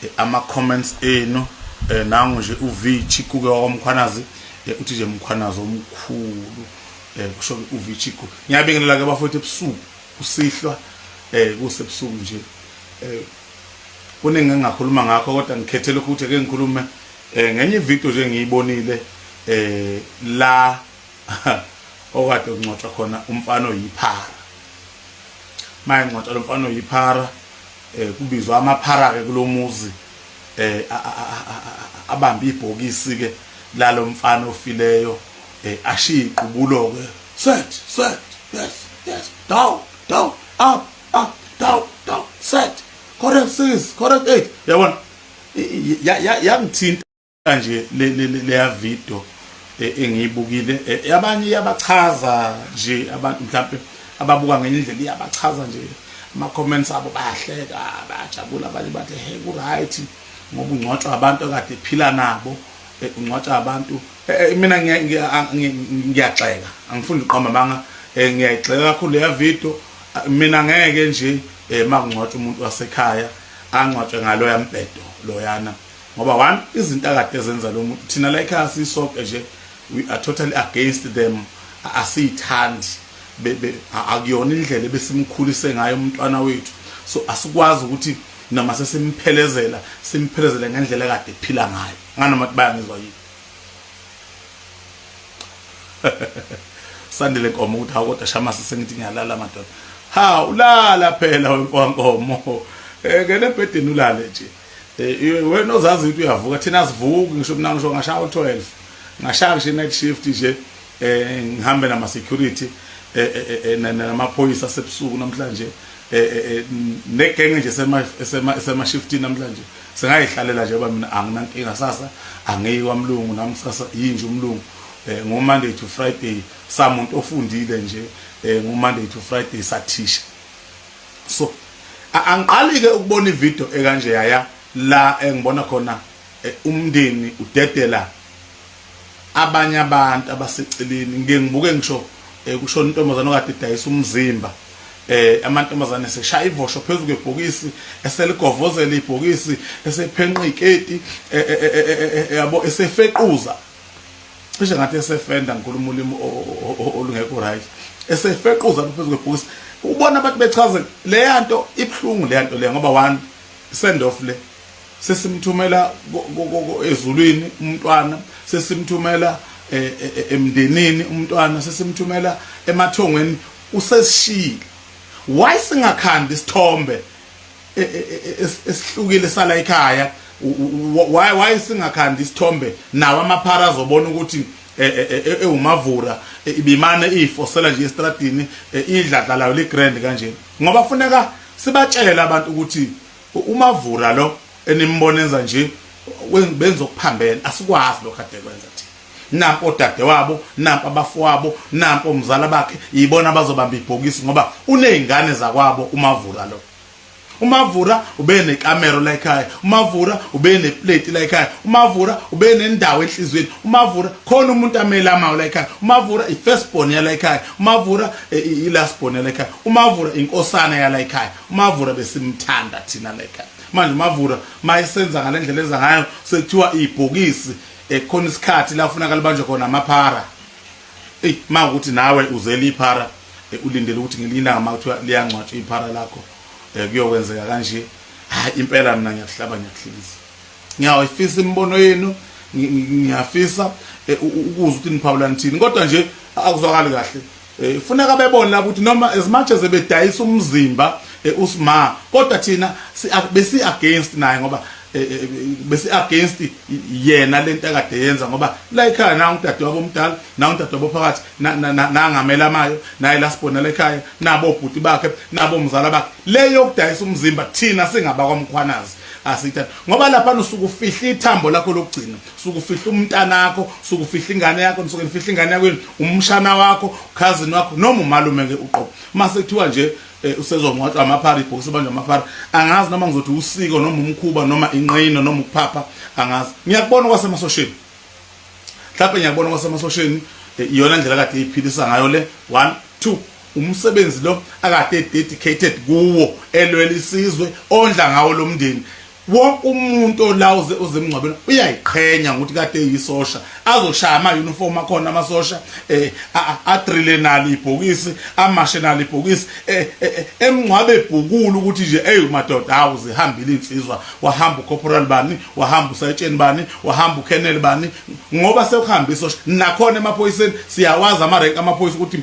eh, ama comments enu eh, nangu nje uvichi kuke wakwamkhwanazi eh, uthi nje mkhwanazi omkhulu eh, kusho uvichi ku ngiyabingelela ke bafowethu ebusuku kusihlwa eh kusebusuku nje eh kuningi engakhuluma ngakho kodwa ngikhethe lokhu ukuthi ke ngikhulume eh ngenye video nje ngiyibonile eh la okade uncotshwa khona umfana oyiphara maye ngcotshwa lomfana oyiphara eh kubizwa amaphara ke kulomuzi eh abambe ibhokisi ke lalomfana ofileyo eh ashiya iqubulo ke set set yes yes down down up up down down set correct sis correct eight yabona yangithinta kanje le le leya video e, engiyibukile e, yabanye iyabachaza nje abantu mhlawumbe ababuka ngenye indlela iyabachaza nje ama comments abo bayahleka bayajabula abanye bathi hey ku right ngoba ungcwatshwa abantu akade phila nabo e, ungcwatshwa abantu mina ngiyaxeka angifuni uqamba manga ngiyayixeka kakhulu leya video mina ngeke nje makungcwatshwa umuntu wasekhaya angcwatshwe ngaloya mbhedo loyana ngoba one izinto akade zenza lo muntu thina la ekhaya siyisoke nje we are totally against them asiyithandi akuyona indlela ebesimkhulise ngayo umntwana wethu so asikwazi ukuthi noma sesimphelezela simphelezele ngendlela kade ephila ngayo nganoma ukuthi bayangizwa yini sandile nkomo ukuthi hawu kodwa shamase sengithi ngiyalala madoda ha ulala phela wenkomo ngene ebhedeni ulale nje Eh, wena ozazi ukuthi uyavuka thina sivuki ngisho mina ngisho ngashaya u-12 ngashaya ngisho i-night shift nje eh ngihambe nama security eh, eh, eh namaphoyisa sebusuku namhlanje eh negenge nje sema sema sema shift namhlanje singayihlalela nje ngoba mina anginankinga sasa angiyi kwamlungu nami sasa yinje umlungu eh ngo Monday to Friday samuntu ofundile nje eh ngo Monday to Friday sathisha so angiqalike ukubona ivideo ekanje yaya la engibona khona eh, umndeni udedela abanye abantu abaseceleni ngike ngibuke ngisho eh, kushona intombazane okade idayisa umzimba eh amantombazane seshaya ivosho phezulu kwebhokisi eseligovozela ibhokisi esephenqa iketi eh, eh, eh, yabo esefequza cishe ngathi esefenda ngikhuluma ulimi olungekho right esefequza phezu kwebhokisi ubona abantu bechaze leya nto ibuhlungu leya nto leya ngoba one send off le sesimthumela ezulwini umntwana sesimthumela e, e, e, emndenini umntwana sesimthumela emathongweni usesishile why singakhandi isithombe e, e, e, esihlukile sala ekhaya why why singakhandi isithombe nawo amaphara azobona ukuthi ewumavura ibimane ifosela nje estradini idladla layo ligrand kanje ngoba kufuneka sibatshele abantu ukuthi umavura lo enimbona enza nje benza okuphambene asikwazi lokho ade kwenza thina nampo dade wabo nampo abafowabo nampo umzala bakhe yibona abazobamba ibhokisi ngoba unezingane zakwabo umavura lo umavura ube nekamero la ekhaya umavura ube neplate la ekhaya umavura ube nendawo enhlizweni umavura khona umuntu amele amawu la ekhaya umavura i-first born yala ekhaya umavura e, i-last born yala ekhaya umavura inkosana yala ekhaya umavura besimthanda thina la ekhaya manje umavura mayisenza ngale ndlela enza ngayo sekuthiwa ibhokisi ekhona isikhathi la kufuneka libanjwe khona amaphara eyi ma ukuthi nawe uzele iphara eh, ulindele ukuthi ngelinye ilanga ma kuthiwa liyangcwatshwa iphara lakho um kuyokwenzeka kanje hayi impela mina ngiyakuhlaba ngiyakuhlekisa ngiyawayifisa imibono yenu ngiyafisa eh, ukuzwa ukuthi niphawula nithini kodwa nje akuzwakali kahle Eh, funeka bebone lapho ukuthi noma as much as bedayisa umzimba eh, usma kodwa thina besi against naye ngoba eh, besi against yena lento akade yenza ngoba la ekhaya na udade wabo omdala na udade wabo phakathi nangamela amayo naye la sibona la ekhaya nabo bhuti bakhe nabo mzala bakhe le yokudayisa umzimba thina singaba kwamkhwanazi asithatha ngoba lapha usuke ufihla ithambo lakho lokugcina usuke ufihla umntana wakho usuke ufihla ingane yakho usuke ufihla ingane yakho umshana wakho cousin wakho noma umalume ke uqobo mase kuthiwa nje eh, usezongcwatshwa amaphara ibhokisi banjwa amaphara angazi noma ngizothi usiko noma umkhuba noma inqina noma ukuphapha angazi ngiyakubona kwasemasosheni mhlawumbe ngiyakubona kwasemasosheni eh, iyona ndlela kade iphilisa ngayo le one two umsebenzi lo akade dedicated kuwo elwela isizwe ondla ngawo lo mndeni wonke umuntu ola uze uzemngcwabela uyayiqhenya ngokuthi kade yisosha azoshaya ama uniform akhona amasosha eh adrile nalo ibhokisi amashe nalo ibhokisi eh, eh, eh, emngcwabe ebhukulu ukuthi nje hey madoda hawu zihambile insizwa wahamba ucorporal bani wahamba usayitsheni bani wahamba ukenel bani ngoba sekuhamba isosha nakhona emaphoyiseni siyawazi ama rank amaphoyisa ukuthi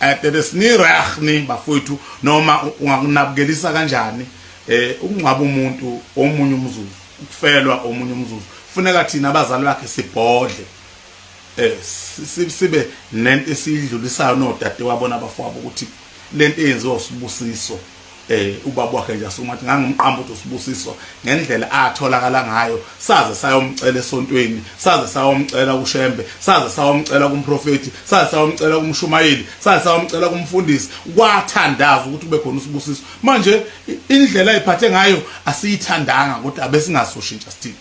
eh bebe sini rah ni bafowethu noma ungakunabukelisa kanjani eh ukungcwaba umuntu omunye umzuzu ukufelwa omunye umzuzu funeka thina abazali bakhe sibhodle eh sibe nento esidlulisayo nodade wabona abafowabo ukuthi lento eyenziwa usibusiso eh ubaba wakhe nje asuma athi ngangimqamba ukuthi usibusiso ngendlela atholakala ngayo saze sayomcela esontweni saze sayomcela kushembe saze sayomcela kumprofeti saze sayomcela kumshumayeli saze sayomcela kumfundisi kwathandaza ukuthi kube khona usibusiso manje indlela ayiphathe ngayo asiyithandanga kodwa abesingasoshintsha sithini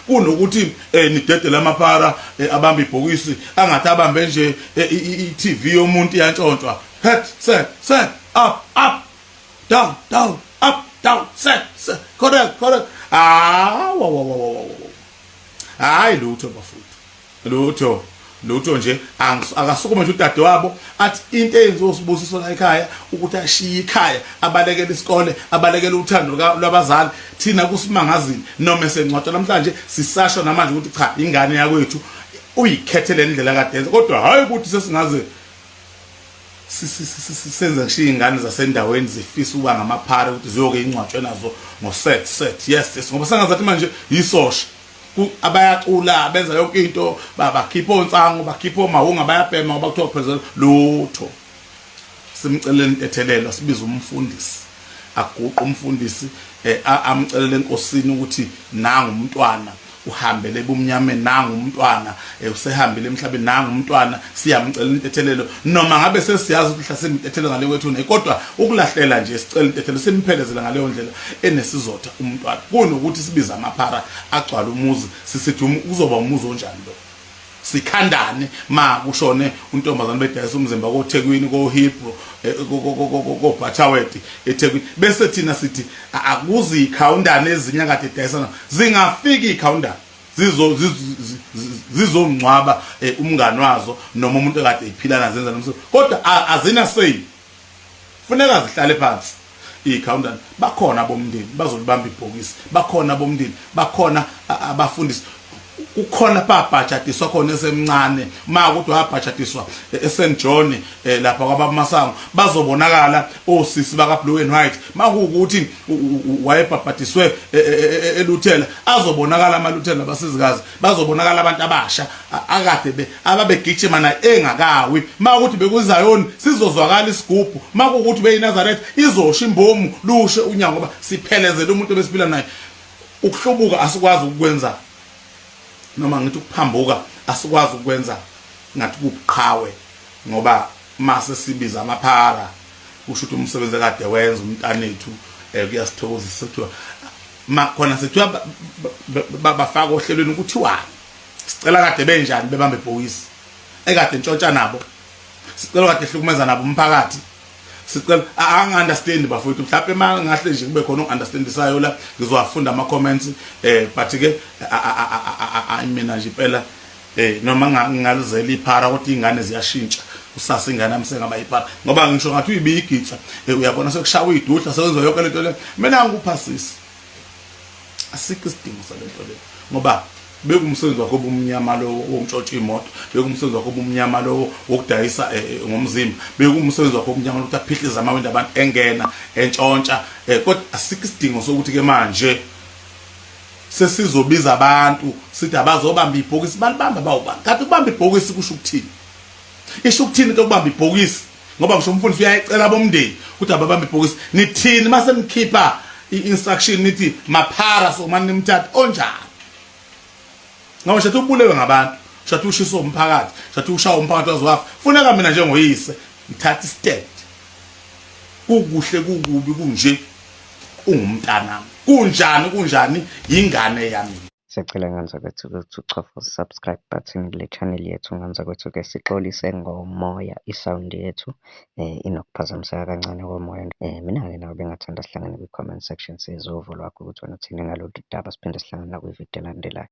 kunokuthi eh nidedele amapara eh, abamba ibhokisi angathi abambe nje eh, iTV yomuntu yantshontshwa head set set up up down down up down set set correct correct ah wa wa wa wa hayi lutho bafo lutho lutho nje akasukume nje udade wabo athi into eyenziwa usibusiso la ekhaya ukuthi ashiye ikhaya abalekele isikole abalekele uthando lwabazali thina kusimangazini noma esencwatha namhlanje sisasho namanje ukuthi cha ingane yakwethu uyikhethele indlela kadenze kodwa hayi ukuthi sesingaze senze ngishiye ingane zasendaweni zifisa ukuba ngamaphara ukuthi ziyoke ingcwatshwe nazo ngo set set yes yes ngoba sengazathi manje yisosha abayacula benza yonke into bakhipha onsango bakhipha omahunga bayabhema ngoba kuthiwa phezulu lutho simcelela intethelelo sibiza umfundisi aguqa umfundisi eh, amcelela enkosini ukuthi nangu umntwana uhambele ebumnyameni nangu umntwana Eh, usehambile emhlabeni nangu umntwana siyamcela intethelelo noma ngabe sesiyazi ukuthi mhla simtethelelo ngale kwethu ne kodwa ukulahlela nje sicela intethelelo simphelezela ngaleyo ndlela enesizotha umntwana kunokuthi sibiza amaphara agcwala umuzi sisithi um, uzoba umuzi onjani lo sikhandane ma kushone untombazane bedayisa umzimba koThekwini koHebrew eh, koBhathaweti eThekwini bese thina sithi akuzi ikhawundane ezinya kade edayisana zingafika ikhawundane zizongcwaba eh, umngani wazo noma umuntu ekade ephila nazo zenza nomsebenzi kodwa azina say funeka zihlale phansi ikhawuntana bakhona abomndeni bazolibamba ibhokisi bakhona abomndeni bakhona abafundisi kukhona babhajatiswa khona esemncane ma ukuthi wabhajatiswa e, eSt John e, lapha kwababumasango bazobonakala osisi baka Blue and White makuwukuthi wayebhabhadiswe e, e, e, eluthela azobonakala amaluthela abasizikazi bazobonakala abantu abasha akade be ababegijima naye engakawi makuthi bekuzayoni sizozwakala isigubhu makukuthi beyiNazareth izosha imbomu lushe unyango ngoba siphelezele umuntu ebesiphila naye ukuhlubuka asikwazi ukukwenza noma ngithi ukuphambuka asikwazi ukwenza ngathi kubuqhawe ngoba mase sibiza amaphara usho ukuthi umsebenzi akade wenza umntanethu um kuyasithokozisa kuthiwa makhona sekuthiwa bafaka ohlelweni ukuthiwani sicela kade benjani bebambe ibhokisi ekade ntshontsha nabo sicela kade hlukumeza nabo umphakathi sicela angi-understand bafowethu mhlawumpe uma ngahle nje kube khona oku-understandisayo la ngizowafunda ama-comments um but-ke mina nje impela eh noma ngingaluzela iphara kodwa ingane ziyashintsha kusasa ingane yami sengaba iphara ngoba ngisho ngathi uyibiyigitsa eh, uyabona sekushawa iduhla sekwenza yonke lento le mina ngikuphasisa asikho isidingo salento le ngoba bekumsebenzi wakho obumnyama lowo wokutshotsha imoto bekumsebenzi wakho obumnyama lowo wokudayisa eh, eh, ngomzimba bekumsebenzi wakho obumnyama lokuthi aphihlize amawindi abantu engena entshontsha kodwa asikho isidingo sokuthi ke manje sesizobiza abantu sithi abazobamba ibhokisi balibamba bawubani kanti ukubamba ibhokisi kusho ukuthini isho ukuthini into yokubamba ibhokisi ngoba ngisho umfundisi uyayicela bomndeni ukuthi ababambe ibhokisi nithini uma senikhipha i-instruction nithi maphara so mani nimthatha onjani ngoba shathi ubulewe ngabantu shathi ushisa umphakathi shathi ushaya umphakathi waziwafa funeka mina njengoyise ngithatha istand kukuhle kukubi kunje ungumntanami kunjani kunjani yingane yami Siyacela nganza kwethu ukuthi uchofa subscribe button kule channel yethu nganza kwethu ke sixolise ngomoya i-sound yethu eh inokuphazamiseka kancane komoya eh mina ke nawe bengathanda sihlangane kwi-comment section sizwe uvo lwakho ukuthi wena uthini ngalolu daba siphinde sihlangane nakwi-video elandelayo